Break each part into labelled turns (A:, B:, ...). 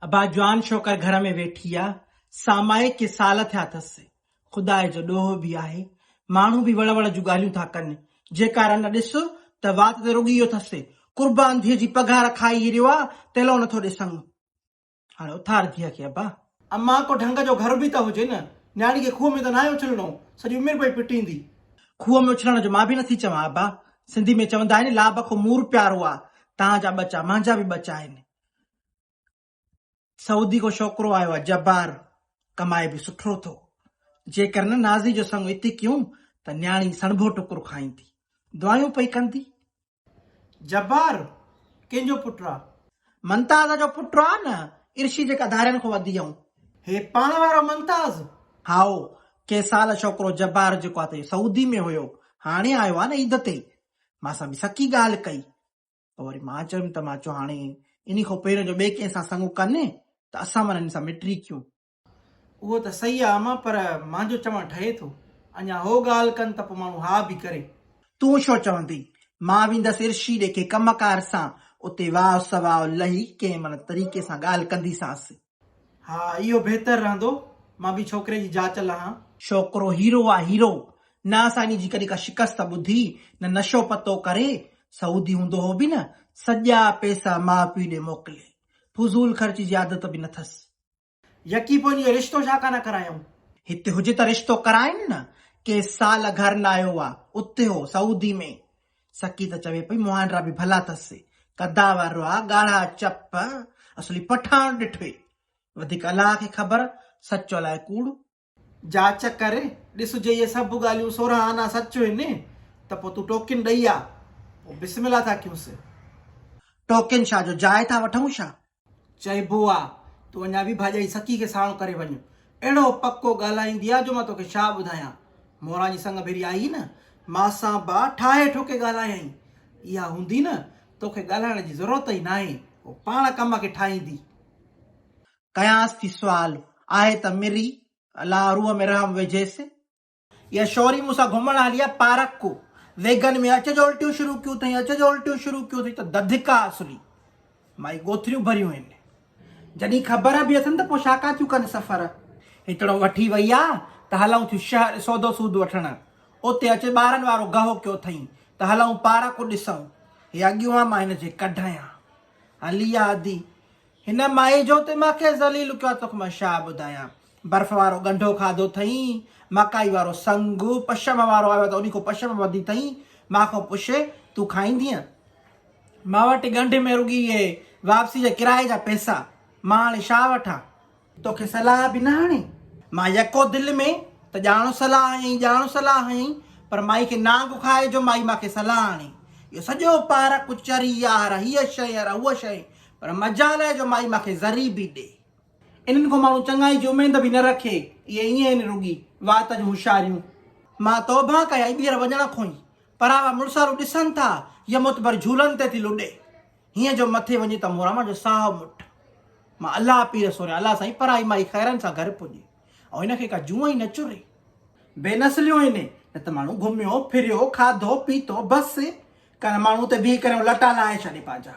A: ابا جوان شوڪر گهر ۾ ويٺي آ، سامائي ڪي سال ٿيا ٿس، خداء جو ڏوهه به آهي، ماڻهو به وڙ وڙ جون ڳالهيون ٿا ڪن، جيڪا رن ڏس ته وات ته رڳي اهو ٿس، قربان ڌيء جي پگهار کائي هي ريو آ، تيلو نٿو ڏي سڱ. هاڻي اٿار ڌيء کي ابا. امان ڪو ڍنگ جو گهر به ته هجي نه، نياڻي کي کوهه ۾ ته ناهي اڇلڻو، سڄي عمر پئي پٽيندي. کوهه ۾ اڇلڻ جو مان به نٿي چوان ابا، سنڌي ۾ چوندا آهن لا بکو مور پيارو آ، تهان جا ٻچا مهنجا به ٻچا آهن، سعودي کان ڇوڪرو آيو آ جبار ڪمائي به سٺو ٿو جيڪر نه نازي جو سڱ اتي ڪيون ته نياڻي سڻڀو ٽڪر کائيندي دعايون پئي ڪندي. جبار ڪنهن جو پٽ آ. منتاز جو پٽ آ نه عرشي جيڪا ڌارين کان وڌي آئون. هي پاڻ وارو منتاز. هائو ڪي سال ڇوڪرو جبار جيڪو آ ته سعودي ۾ هيو هاڻي آيو آ نه عيد تي مان سان به سڪي ڳالهه ڪئي ته وري مان چيم ته مان چيو هاڻي انهي کان پهريون جو ٻئي ڪنهن سان سڱو ڪن ته اسان مان هن سان مٽري ڪيون. اهو ته صحيح آ اما پر مانجو چوڻ ٺهي ٿو. اڃا هو ڳالهه ڪن ته پوء ماڻهو ها به ڪري. تون ڇو چوندين؟ مان ويندس عرشي ڏي ڪنهن ڪم ڪار سان اتي واء سواء لهي ڪنهن ملهه طريقي سان ڳالهه ڪنديسانس. ها اهو بهتر رهندو مان به ڇوڪري جي جاچ لهان. ڇوڪرو هيرو آ هيرو. نه اسانجي جي ڪڏهن ڪا شڪست ٻڌي نه نشو پتو ڪري سعودي هوندو هو به نه سڄا پيسا ماء پيء ڏي موڪلي فضول خرچ جي عادت به نه ٿس. يڪي پوء ان جو رشتو ڇا ڪانه ڪرايائون. هتي هجي ته رشتو ڪرائين نه ڪي سال گهر نه آيو آ اتي هو سعودي ۾ سڪي ته چوي پئي مهانڊرا به ڀلا اٿس، قدا وارو آ، ڳاڙها چپ، اصلي پٺاڻ ڏٺوئي. وڌيڪ الله کي خبر، سچ الاء ڪوڙ. جاچ ڪر، ڏس جي اهي سڀ ڳالهيون سورهن آنا سچ هين ته پوء تون ٽوڪين ڏئي آ، پوء بسم الله ٿا ڪيونس. ٽوڪين شاهه جو جاء ٿا وٺون ڇا؟ چئبو آ تون اڃا به ڀاڄائي سڪي کي ساڻو ڪري وڃ. اهڙو پڪو ڳالهائيندي آ جو مان توکي ڇا ٻڌايان. موران جي سڱ ڀيري آئي نه، مان سان به ٺاهي ٺوڪي ڳالهايائين. اها هوندي نه، توکي ڳالهائڻ جي ضرورت ئي ناهي، هوء پاڻ ڪم کي ٺاهيندي. ڪيانس ٿي سوال، آهي ته مري، الا روح ۾ رحم وجهيس. اها شوري مون سان گهمڻ هلي آ پارڪ ڪو ويگن ۾ اچ جو الٽيون شروع ڪيون اٿئي اچ جو الٽيون شروع ڪيون اٿئي ته دڌڪا اصلي مائي ڳوٿريون ڀريون آهن جڏهن خبر به اٿن ته پوء شاڪا ٿيون ڪن سفر هتڙو وٺي وئي آ ته هلون ٿيون شهر سودو سود وٺڻ اتي اچ ٻارن وارو گهو ڪيو اٿئي ته هلون پارڪ ڏسون هي اڳيون آ مان هن جي ڪڍايان هلي آ ادي هن مائي جو ته مان کي ذليل ڪيو آ توکي مان ڇا ٻڌايان برف وارو ڳنڍو کاڌو ٿئين مڪائي وارو سنگ پشم وارو آيو آ ته انهي کان پشم وڌي ٿئين مان کان پڇي تون کائيندينء مان وٽ ڳنڍ ۾ رڳي اهي واپسي جي ڪرائي جا پئسا مان هاڻي ڇا وٺان. توکي صلاح به نه هڻي؟ مان يڪو دل ۾ ته ڄاڻو صلاح هنئي، ڄاڻو صلاح هنئي، پر مائي کي نانگ کائي جو مائي مان کي صلاح هڻي. اهو سڄو پارڪ چري يار هيء شيء يار هوء شيء، پر مجال آهي جو مائي مان کي ذري به ڏي. انهن کان ماڻهو چڱائي جي اميد به نه رکي. اهي ائين آهن رڳي وات جون هوشياريون. مان توبهه ڪيائين ٻيهر وڃڻ کون ئي. پراوا مڙسارو ڏسن ٿا، هيء معتبر جهولن تي ٿي لڏي. هيئن جو مٿي وڃي ته موران مان جو ساهه مٺ مان الله پير سوريان الله سائين پرائي مائي خيرن سان گهر پڄي ۽ هن کي ڪا جونء ئي نه چري بي نسليون هن نه ته ماڻهو گهميو ڦريو کاڌو پيتو بس ڪن ماڻهو تي بيهي ڪريون لٽا لاهي ڇڏي پنهنجا.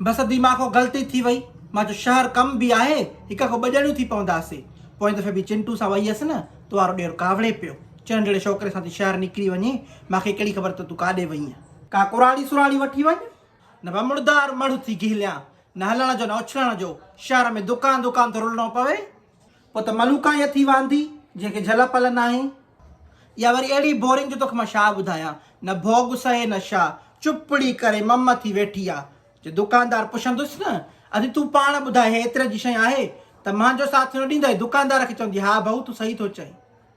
A: بس ادي مان کان غلطي ٿي وئي مان جو شهر ڪم به آهي هڪ کان ٻه ڄڻيون ٿي پونداسي پوئين دفعي به چنٽو سان وئي هيس نه تو وارو ڏير ڪاوڙي پيو چئن جهڙي شوڪري سان ٿي شهر نڪري وڃي مان کي ڪهڙي خبر ته تون ڪاڏي وئينء ڪا ڪراڙي سراڙي وٺي وڃ نه ڀا مڙدار مڙهه ٿي گهليان، نه هلڻ جو نه اڇلڻ جو، شهر ۾ دڪان دڪان ٿو رلڻو پوي. پوء ته ملوڪا ئي اٿي واندي، جنهن کي جهل پل ناهي. اها وري اهڙي بورنگ جو توکي مان ڇا ٻڌايان. نه ڀوڳ سهي نه ڇا، چپڙي ڪري مم ٿي ويٺي آ. جي دڪاندار پڇندس نه، ادي تون پاڻ ٻڌاء هي ايتري جي شيء آهي؟ ته مهانجو ساٿ نه ڏيندئي؟ دڪاندار کي چوندي، ها ڀائو تون صحيح ٿو چئين.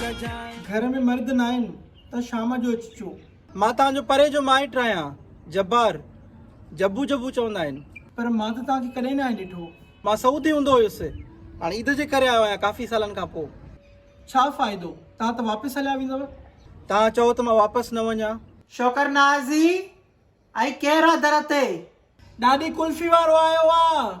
A: گهر ۾ مرد ناهن ته شام جو اچجو. مان توهان جو پري جو مائٽ آهيان. جبار، جبو جبو چوندا آهن. پر مان ته توهان کي ڪڏهن ناهي ڏٺو. مان سعودي هوندو هيس. هاڻ عيد جي ڪري آيو آهيان ڪافي سالن کان پوء. ڇا فائدو؟ توهان ته واپس هليا ويندؤ. توهان چئو ته مان واپس نه وڃان. شوڪر نازي، اهي ڪهڙا در تي. ڏاڏي ڪلفي وارو آيو آ.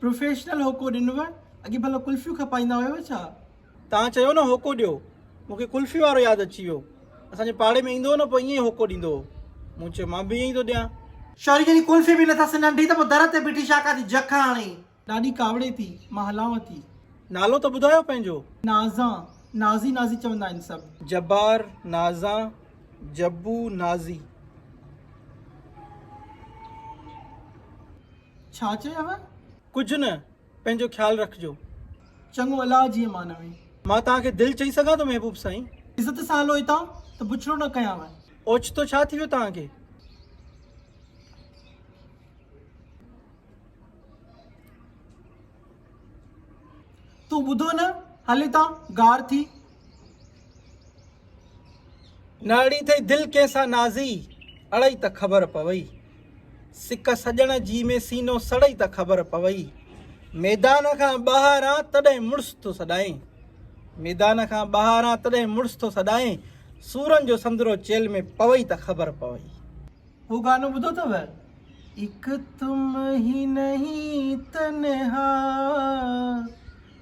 A: پروفيشنل هوڪو ڏنوء؟ اڳي ڀلا ڪلفيون کپائيندا هيو ڇا؟ توهان چيو نه هوڪو ڏيو، مون کي ڪلفي وارو ياد اچي ويو. اسان جي پاڙي ۾ ايندو هو نه پوء ائين ئي هوڪو ڏيندو هو. مون چيو مان به ائين ئي ٿو ڏيان. شوري جڏهن ڪلفي به نه ٿا سڃاڻن ٿي ته پوء در تي بيٺي شاڪا ٿي جک هڻي. ڏاڏي ڪاوڙي ٿي، مان هلانو ٿي. نالو ته ٻڌايو پنهنجو. نازان، نازي نازي چوندا آهن سڀ. جبار، نازان، جبو، نازي. ڇا چيئه؟ ڪجهه نه، پنهنجو خيال رکجو. چڱو الله جيئي مانوي. مان توهان کي دل چئي سگهان ٿو محبوب سائين. عزت سان هلو هتان ته بڇڙو نه ڪيانو. اوچتو ڇا ٿي ويو توهان کي؟ تون ٻڌو نه هل هتان غار ٿي. ناڙي ٿئي دل ڪنهن سان نازي، اڙئي ته خبر پوئي. سڪ سڄڻ جي ۾ سينو سڙئي ته خبر پوئي. ميدان کان ٻاهر آن تڏهن مڙس ٿو سڏائين. ميدان کان ٻاهر آن تڏهن مڙس ٿو سڏائين. سورن جو سندرو چيلهه ۾ پوئي ته خبر پوئي. اهو گانو ٻڌو اٿو؟ اک تم هي نهين تنها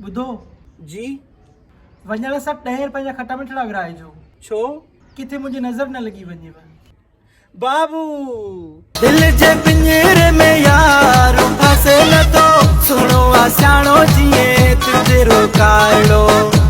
A: ٻڌو! جي وڃڻ سان ٽهير پنهنجا کٽا مٺڙا ورهائجو. ڇو؟ ڪٿي منهنجي نظر نه لڳي وڃيو. بابو! دل جي پڃيري ۾ يار ڦاسي لڌو. سهڻو آ سياڻو جيئن تترو ڪارڙو.